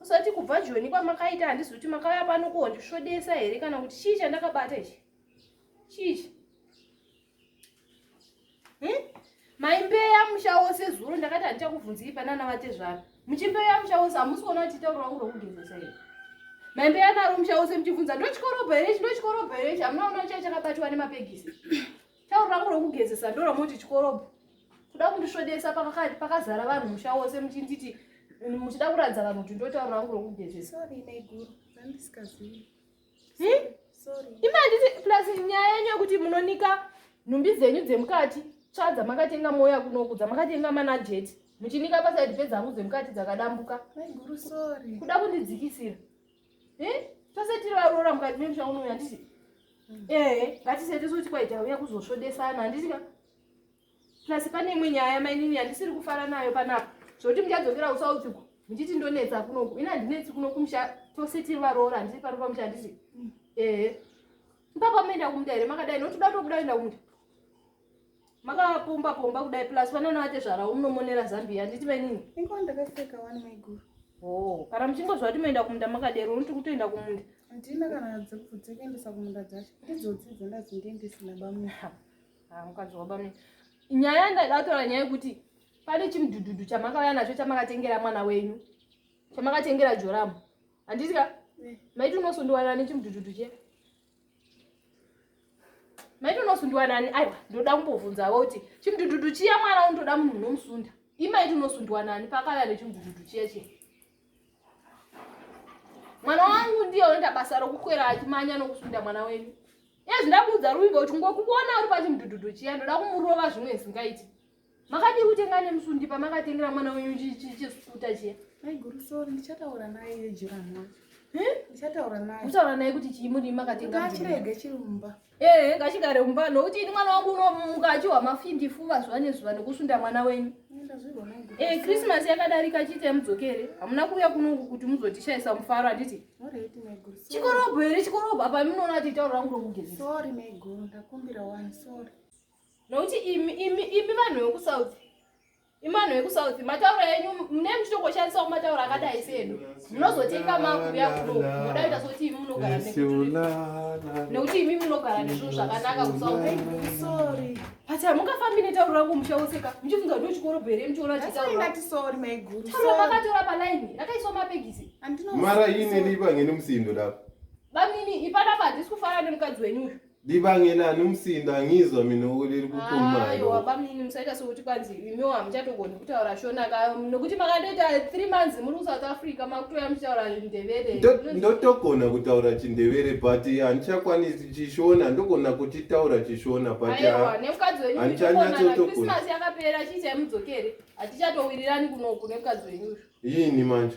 Usati kubva Joni kwamakaita handizi kuti makauya pano kuhondisvodesa here kana kuti chii chandakabata ichi? Chii? Hmm? Maimbeya musha wose zuro ndakati handichakubvunziri panana vatezvara. Muchimbeya musha wose hamusi kuona kuti tauro wangu rokugezesa here? Maimbeya naro musha wose muchibvunza ndochikorobha here ichi ndochikorobha here ichi hamuna kuona kuti chakabatwa nemapegisi. Tauro rangu rokugezesa ndoromoti chikorobho. Kuda kundisvodesa pakazara vanhu musha wose muchinditi muchida kuratidza vanhu kuti ndotauro rangu rokugezesa. Sorry maiguru, ndandisikazivi. Hmm? Sorry. Ima nditi plus nyaya yenyu yekuti munonika nhumbi dzenyu dzemukati tsva dzamakatenga moya kunoku dzamakatenga mana jeti muchinika pasaidi pedzangu dzemukati dzakadambuka. Maiguru sorry. Kuda kundidzikisira. Eh? Tose tiri varoora mukati memusha uno yandisi. Mm. Eh, ngatisete kuti kwaita uya kuzosvodesana handisi ka. Plus pane imwe nyaya mainini yandisiri kufara nayo panapa. Zvoti muchadzokera usaudziko. Muchiti ndonetsa kunoku. Ina ndinetsi kunoku musha tose tiri varoora handisi pano pamusha handisi. Mm. Eh. Mpaka menda kumda here makadai notoda tokuda enda kumda. makapomba pomba kudai plus vanoona vatezvara umunomonera zambia nditi vainini inga ndakapfeka wani maiguru oh kana muchingozva kuti moenda kumunda makadero unoti kutoenda kumunda ndina kana dzekubvudzekeendesa kumunda dzacho ndidzodzi dzandazi ndiendesina bamwe ha ah, mukadzi wabamwe nyaya ndaidatora nyaya yekuti pane chimudhudhudhu chamakauya nacho chamakatengera mwana wenyu chamakatengera joramu handiti ka eh. maiti unosondiwanira nechimudhudhudhu che maiti unosundiwa nani aiwa ndoda kumbobvunzavo kuti chimudududu chiya mwana undoda munhu unomusunda imaiti unosundiwa nani pakava nechimudududu chiya chiya mwana wangu ndiye unoita basa rokukwera achimanya nokusunda mwana wenyu ezvindakuudza ruvimbo kuti ngokuona uri pachimudududu chiya ndoda kumurova zvimwe zvingaiti Makadii kutenga nemusundi pamakatengera mwana wenyu chisukuta chiya? Mai guru sorry ndichataura naye iye jirani wacho. Hm? Ndichataura naye. Mutaura naye kuti chii muri makatenga? Ngachirege chiri mumba. Eh, ngachigare mumba nokuti ini mwana wangu unomuka achiwa mafindi fuva zuva nezuva nekusunda mwana wenyu. Eh, Christmas yakadarika chiite mudzokere. Hamuna kuuya kuno kuti muzotishayisa mufaro handiti? Chikorobho here chikorobho apa munoona kuti itaura rangu rokugezesa. Sorry mai guru ndakumbira wani sorry. nokuti imi imi imi vanhu vekusouth imi vanhu vekusouth matauro enyu mune muchitoko shandisawo matauro akadai sedu munozotenga makuya kuno moda kuita sokuti imi munogara nekuti imi munogara nezvinhu zvakanaka kusouth but hamungafambi netauro rangu musha wose ka muchifunza kuti uchikorobho here muchiona chitauro makatora palaini rakaiswa mapegisi mara ine lipa ngene musindo dako bamini ipanapa handisi kufanana nemukadzi wenyu uyu Ndibangena anomusinda ngizwa mina uriri kukumana. Ayo wabamnini musaita sokuti kwanzi imiwo hamuchatogoni kutaura shona ka nokuti makandoita 3 months muri kuSouth Africa makutouya muchitaura ndevere. Ndotogona kutaura chindevere but handichakwanisi chishona ndogona kuchitaura chishona but Ayo nemukadzi wenyu handichanyatso togona. Christmas yakapera chicha yemudzokere. Hatichatowirirani kunoku nemukadzi wenyu. Yini manje?